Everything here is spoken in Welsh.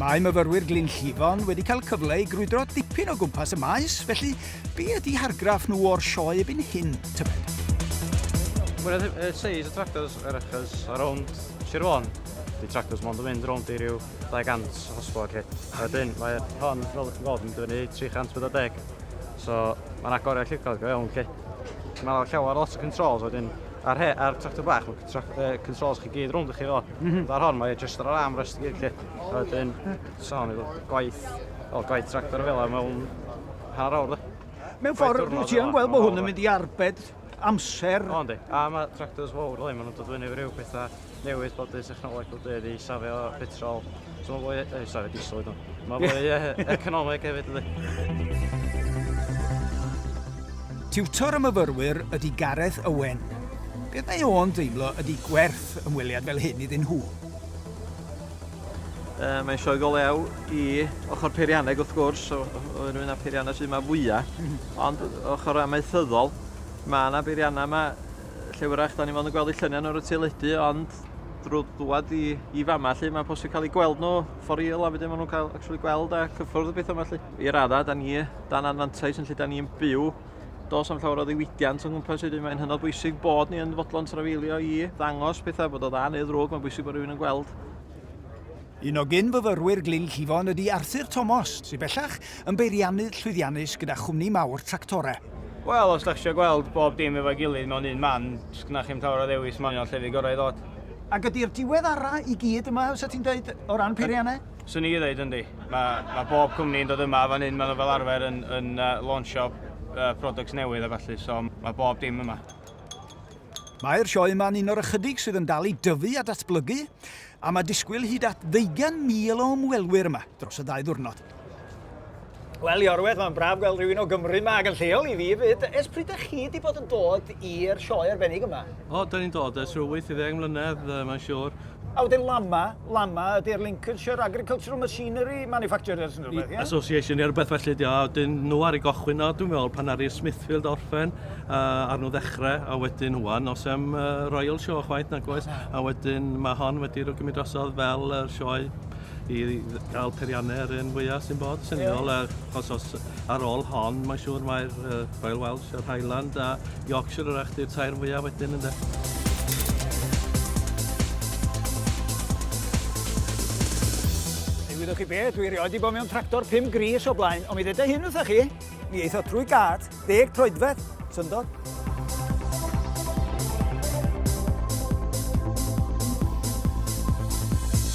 Mae myfyrwyr Glyn Llifon wedi cael cyfle i grwydro dipyn o gwmpas y maes, felly be ydy hargraff nhw o'r sioe ebyn hyn, tybed? Mwy na uh, seis y tractors yr achos a rownd Sir Fôn. Di tractors mond yn mynd rownd i ryw 200 o hosbo ac hit. A wedyn mae hon, fel ydych chi'n gweld, yn dyfynu 340. So mae'n agoriad lliwgar go iawn chi. Mae yna llawer lot o controls wedyn ar, he, ar tractor bach, mae tra, uh, controls chi gyd rownd i chi ddo. Mm -hmm. Ar hon, mae just ar arm rest gyd chi. A wedyn, so, ni gwaith, o, gwaith tractor fel yma mewn hanner awr, dwi. Mewn ffordd, rwy'n ti yn gweld bod hwn yn mynd i arbed amser. O, yndi. A mae tractors fawr, dwi, maen nhw'n dod fyny rhyw pethau newid bod y technoleg wedi ei safio petrol. So mae'n fwy... Ei, safio diesel ydw. Mae'n fwy economeg hefyd ydy. Tiwtor y myfyrwyr ydy Gareth Owen. Beth mae o'n deimlo ydy gwerth ymweliad fel hyn iddyn nhw? Uh, mae'n sioe go lew i ochr peirianneg wrth gwrs, o'r un o'r peiriannau sydd yma fwyaf, mhm. ond ochr amaethyddol, mae yna beiriannau yma lle wrach da ni mond yn gweld eu lluniau nhw ar y teledu ond drwy ddwad i, i fama lle mae'n posib cael eu gweld nhw for real a wedyn maen nhw'n cael actually gweld a cyffwrdd y beth yma lle. I raddau, da ni dan anfantais yn lle da ni'n byw dos am llawer o ddiwydiant o'n gwmpas wedyn mae'n hynod bwysig bod ni yn fodlon trafeilio i ddangos pethau bod o dda neu ddrwg mae'n bwysig bod rhywun yn gweld Un o gyn-fyfyrwyr Glyn Llifon ydy Arthur Tomos, sydd bellach yn beiriannydd llwyddiannus gyda chwmni mawr tractorau. Wel, os dach chi isio gweld bob dim efo'i gilydd mewn un man, does gynnoch chi'm llawer o ddewis, mae hon yn llefydd gorau i ddod. Ac ydy'r diweddarau i gyd yma, fysa ti'n dweud, o ran peiriannau? Swn i ddeud, yndi. Mae, mae bob cwmni yn dod yma a fan hyn maen nhw fel arfer yn, yn uh, launchio uh, products newydd a falle, so mae bob dim yma. Mae'r sioe yma'n un o'r ychydig sydd yn dal i dyfu a datblygu. A mae disgwyl hyd at ddeugain mil o ymwelwyr yma dros y ddau ddiwrnod. Wel, Iorwedd, mae'n braf gweld rhywun o Gymru yma ac yn lleol i fi fyd. Ers pryd ydych chi wedi bod yn dod i'r sioe arbennig yma? O, da ni'n dod ers rhyw 80 mlynedd, mae'n siŵr. A wedyn LAMMA, LAMMA ydy'r Lincolnshire Agricultural Machinery Manufacturers yn rhywbeth, ie? Association neu rhywbeth felly ydy o, a wedyn nhw ar y gochwyn o, dwi'n meddwl, pan aru Smithfield orffen, a nhw ddechrau, a wedyn wan, os am uh, Royal Show chwaith nag oes, a wedyn mae hon wedi rhywun gymryd drosodd fel yr uh, sioe i gael periannau yr un fwyaf sy'n bod sy'n ddol, achos os ar ôl hon, mae'n siŵr mae'r uh, Royal Welsh, yr Highland a Yorkshire yr eich di'r tair fwyaf wedyn ynddo. Gwyddoch chi beth, dwi rioed i bod mewn tractor 5 gris o blaen, ond mi ddeda hyn wrthych chi, mi eitho trwy gad, Deg troedfedd, syndod.